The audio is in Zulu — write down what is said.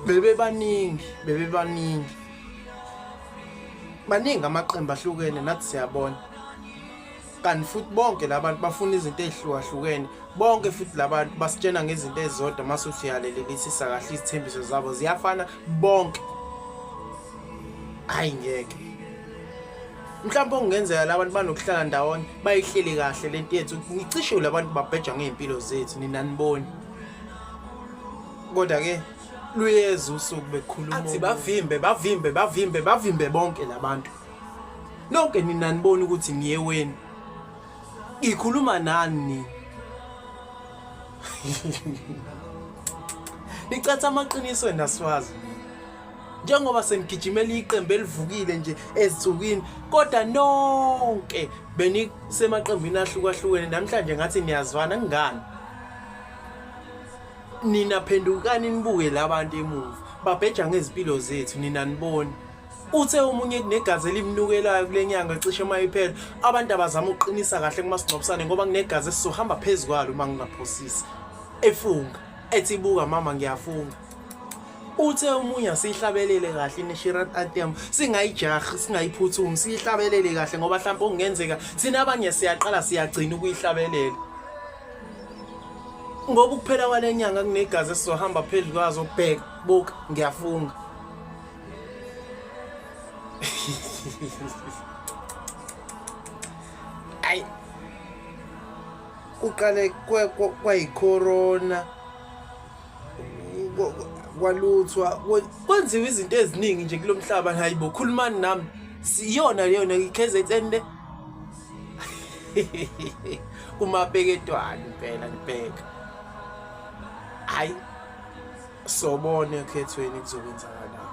bebebaningi bebebaningi baningi amaqembu ahlukene nathi siyabona kanti futhi bonke labantu bafuna izinto ezihlukahlukene bonke futhi labantu basitshena ngezinto ezizodwa mase usiyalelelisisa kahle izithembiso zabo ziyafana bonke hayi ngeke mhlawumbe okungenzeka labantu banokuhlala ndawonye bayihleli kahle lento yethu ngicishiwe labantu babheja ngey'mpilo zethu nina niboni kodwa-ke luyeza usuku bekhulumaathi bavimbe bavimbe bavimbe bavimbe bonke labantu nonke nina niboni ukuthi niye weni ngikhuluma nani nina nicatha amaqiniso enaswazi njengoba senigijimela iqembu elivukile nje ezinsukwini kodwa nonke benisemaqembini ahlukahlukene namhlanje ngathi niyazwana kungani nina phendukani nibuke labantu emuva babheja ngezimpilo zethu nina niboni uthe omunye kunegazi elimnukelayo kule nyanga cishe uma iphela abantu abazama ukuqinisa kahle kumasingcwabisane ngoba kunegazi esizohamba phezu kwalo uma ngingaphosisi efunga ethi buka mama ngiyafunga uthe umunya siyihlabelele kahle inishirat atem singayijahi singayiphuthumi siyihlabelele kahle ngoba mhlawumbe okungenzeka thina abanye siyaqala siyagcina ukuyihlabelela ngoba ukuphela kwale nyanga kunegazi esizohamba phezu kwazo bheka buka ngiyafunga ayi kuqale kwayicorona kwe, kwe, kwaluthwa kwenziwa izinto eziningi nje kulo mhlaba hayi bo khulumani nami siyona leyona i-kzn le umabheketwana impela nibheka hayi sobone ekhethweni kuzokwenzakalani